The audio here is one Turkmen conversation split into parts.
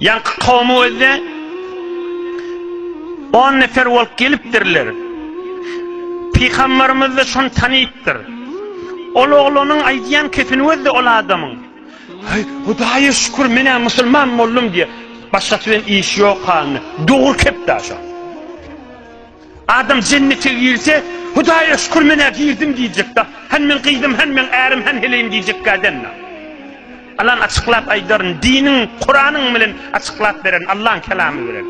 Ýaňky kowum özde on nefer bolup gelipdirler. Pygamberimiz-de şony tanypdyr. Ol oglanyň aýdýan kepini özde ol adamyň. Heý, Hudaýa şükür, men-ä musulman boldum diýýär. Başgasy bilen işi ýok halyna. Dogry kep-dä şo. Adam jennete girse, Hudaýa şükür men-ä girdim diýjekda. Hany meň gyzym, hany meň ärim, hany heleýim diýjekkä däl-la. Alan açyklap aýdaryn, diniň, Kuranyň bilen açyklap beren, Allaň kelamy bilen.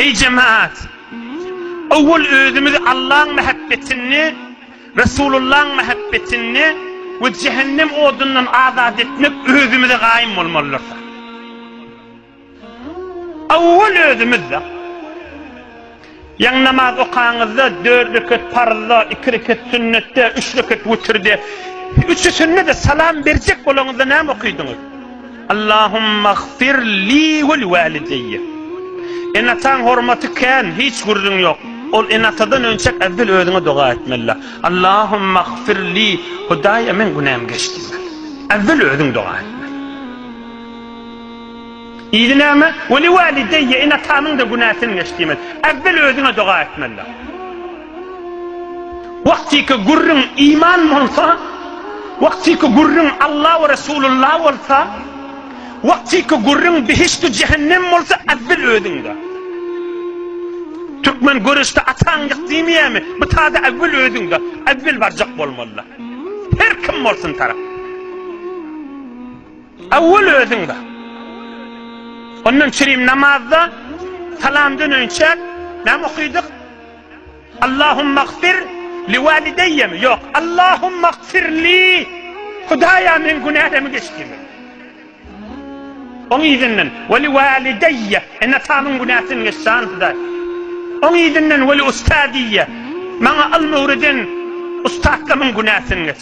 Eý jemaat! Owwal özümizi Allaň mähebbetini, Resulullaň mähebbetini we jehennem odundan azat etmek özümize gaýym bolmalydyrys. Owwal özümiz-de. Ýaňy namaz okaňyzda dört rekat parzda, iki rekat sünnetde, üç rekat witirde, üçüsinde-de salam berjek bolaňyzda näme okydyňyz? Allahummaghfir li we walideýe. Ene-ataň hormaty kän, hiç gürrüň ýok. Ol ene-atadan önçek äwwel özüňe doga etmeli. Allahummaghfir li, Hudaýa meň günäm geç diýmeli. Äwwel özüň doga etmeli. Yzy näme? Weli walideýye, ene-atamyň-da günäsin geç diýmeli. Äwwel özüňe doga etmeli. Wagtyky gürrüň iman bolsa, wagtyky gürrüň Alla we Resulullah bolsa, wagtyky gürrüň behişt-u jehennem bolsa, äwwel özüňde. Türkmen göreşde ataň ýyk diýmeýärmi? Bu tada äwwel özüňde. Äwwel barjak bolmaly. Her kim bolsun tarap. Awwal özüň bar. Ondan çirim namazda salam döneýinçäk näme okydyk? Allahumagfir li walideýemi? Ýok, Allahumagfir li. Hudaýa meň günälemi geç diýmek. Oň yzyndan we li walideýe, ene-atamyň günäsini geç jan Hudaý. Oň yzyndan we li ustadiýe, maňa ylmy öwreden ussatlarymyň günäsini geç.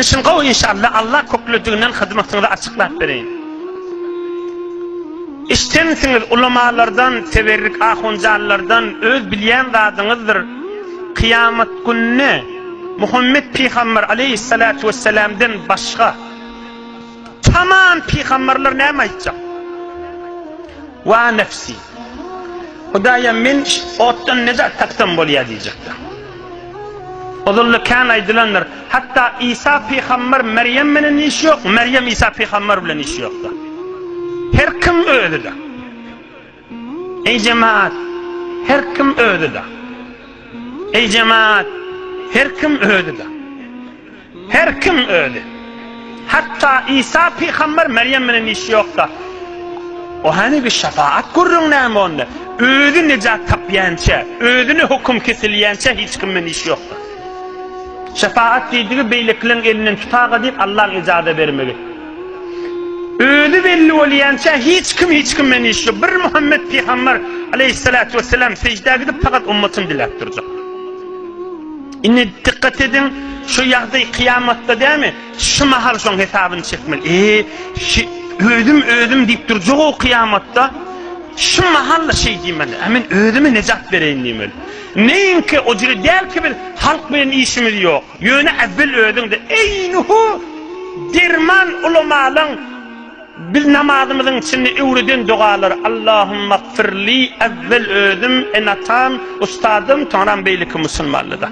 Işiň gowy inşallah Allah köklediginden hyzmatyňyzy açyklap bereýin. Işjeňsiňiz ulamalardan teberrik ahunjanlardan öz bilýän zadyňyzdyr kyýamat gününe Muhammet pygamber aleýhissalatu wessalamden başga tamam pygamberler näme aýtjak. Wa nefsi. Hudaýym, men otdan nejat tapsam bolýar diýjekdir. Ozalda kän aýdylandyr, hatda Isa pygamber Merýem menen işi ýok, Merýem Isa pygamber bilen işi ýokdur. Her kim özüdir. Eý jemaat, her kim özüdir. Eý jemaat, her kim özüdir. Her kim özi. Hatda Isa pygamber Merýem bilen işi ýokda. O hany bir şepaat gürrüň näme onda? Özi nejat tapýança, özüne höküm kesilýänçä hiç kim bilen işi ýokda. Şepaat diýdigi beýlekileriň elinden tutaga diýip Allaň ejaza bermegi. Özi belli bolýança hiç kim hiç kim bilen işi ýok. Bir Muhammet pygamber aleýhissalatu wesselam sejdä gidip fakat ummatyn diläp durjak. Indi dikkat ediň, şu ýagdaý kyýamatda dämi? Şu mahal şoň hesabyny çekmeli. Eý, şi, özüm, özüm diýip durjak-ow kyýamatda. Şu mahal-da şeý diýmeli. Ä men özüme nejat bereýin diýmeli. Neýinki o jili däl ki biz halk bilen işimiz ýok. Ýöne äwwel özüň-de, eýnuhu, derman ulamalaň. Biz namazymyzyň içinde öwreden dogalary Allahumagfirli Äwwel özüm, ene-atam, ustazym, soňram beýleki musulmanlyda.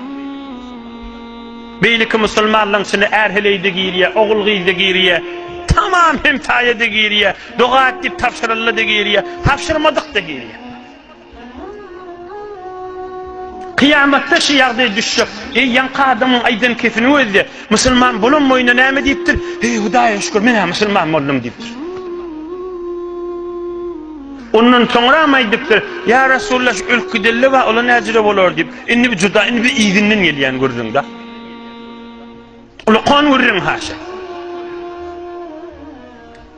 Beýleki musulmanlygyň içinde är-heleý-de girýär, ogul-gyz-da girýär, tamam hemsaýa-da girýär, doga et diýip tabşyryldy-da girýär, tabşyrmadyk-da girýär. Kyýamatda şu ýagdaý düşjek. Eý, ýaňky adamyň aýdan kesiniň özi-de, Musulman bolan boýuna näme diýipdir? Heý, Hudaýa şükür, men-ä musulman boldum diýipdir. Ondan soňram aýdypdyr, Ýa Resulalla, şu öl kidelle bar, ola näjüre bolar diýip. Indi bu juda, indi biz yzyndan gelýän gürrüň-dä. Ulukan gürrüň haşa.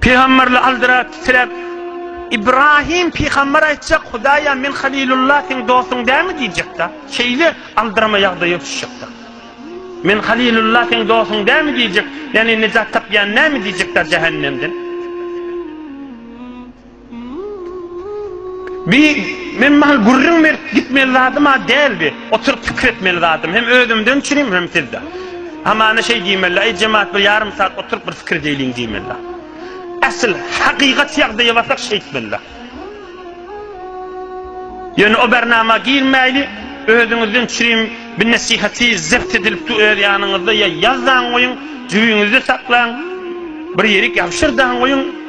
Pygamberli aldyrat titrep, Ibrahim pygamber aýtjak, Hudaýa men Halilulla seň dostuň dälmi diýjekda. Şeýle aldyrma ýagdaýa düşjekda. Men Halilulla seň dostuň dälmi diýjek, ýagny nejat tapýan näme diýjekda jähennemden. Bi, men mahaly gürrüň berip gitmeli zadym-a däl bi. Oturyp pikir etmeli zadym hem özümden üçinim, hem sizden. Hamana şeý diýmeli, Aý, jemagat, bir ýarym sagat oturyp bir pikir edeýliň diýmeli. Asyl, hakykat ýagdaýa barsak şeýtmeli. Ýöne o bernama girmäýli, özüňizden üçinim bi nesihaty zebt edilipdi öz ýanyňyzda ýa ýaz daň goýuň, jübiňizde saklaň, bir ýerik ýabşyr daň goýuň.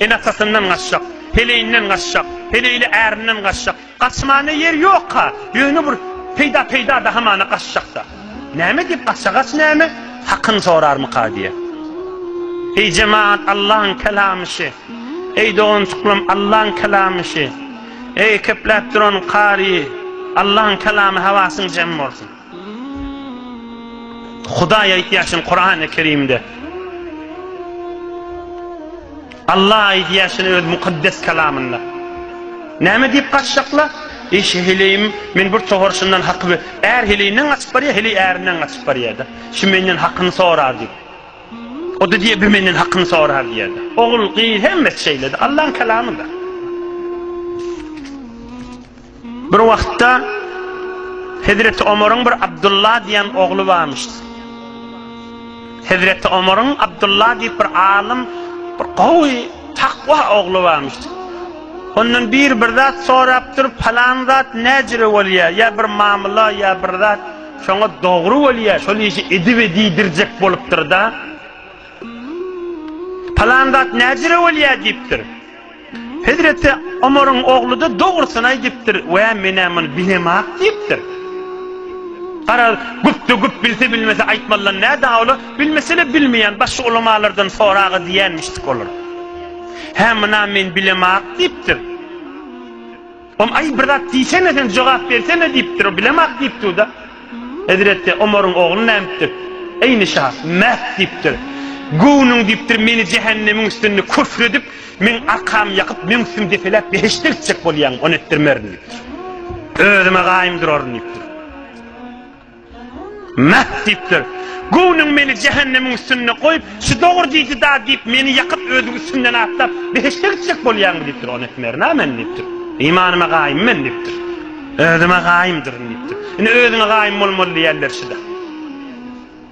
Ene-atasyndan gaçjak, heleýinden gaçjak, heleýli ärinden gaçjak. Gaçmana ýer ýok-a, ýöne bir peýda-peýda-da hamana gaçjak-da. Näme diýip gaça, gaç näme? Hakyny sorarmyka diýýä. Eý jemagat, Allaň kelamy şi. Eý doganjyklarym, Allaň kelamy şi. Eý, kepläp duran kary, Allaň kelamy hawasyň jem bolsun. Hudaý aýdýaşyn Kurany Kerimde. Allah aýdýaşyn öz mukaddes kalamynda. Näme diýip gaçjakla? Eşe heleýim, men bir tohar şundan haky we är heleýinden gaçyp barýa, heleý ärinden gaçyp barýada. Şu menden hakyny sorar diýip. O da diýe, bu menden hakyny sorar diýada. Ogul, gyz hemmesi şeýledi. Allaň kalamyda. Bir wagtda Hezreti Omaryň bir Abdulla diýen ogly barmyş. Hezreti Omaryň Abdulla diýip bir alym, bir gowy, takwa ogly barmyş. Ondan bir bir zat sorap durup, falan zat näjire bolýar? Ýa bir mamula, ýa bir zat şoňa dogry bolýar, şol işi edip edidirjek bolupdyr-da. Falan zat näjire bolýar diýipdir. Hezreti Omaryň ogly-da dogrusyny aýdypdyr, Wä, men-ä muny bilemok diýipdir. Garaz, güpde güp bilse-bilmese aýtmalydan nä dawla, bilmese-le bilmeýän başga ulamalardan sora-a diýenmişdik olar. Hä, muny-a men bilemok diýipdir. Om, Aý, bir zat diýsene sen, jogap bersene, diýipdir. O bilemok diýipdi-da. Hezreti Omaryň ogly nädipdir? Eý, Nişa, mähk diýipdir. Göwnüň diýipdir, meni jähennemiň üstünde küfr edip, meň arkamy ýakyp, meň üstümi depeläp, behişde gitjek bolýaňmy? Ony etdirmerin diýipdir. Özüme gaýym duraryn diýipdir. Mäh! diýipdir. Göwnüň meni jähennemiň üstünde goýup, şu dogry diýdi da diýip, meni ýakyp, özüň üstünden atlap, behişde gitjek bolýaňmy? diýipdir. Ony etmerin-ä men, diýipdir. Imanyma gaýym men, diýipdir. Özüme gaýymdyryn, diýipdir. Ine, özüňe gaýym bolmaly diýýän berşi-dä.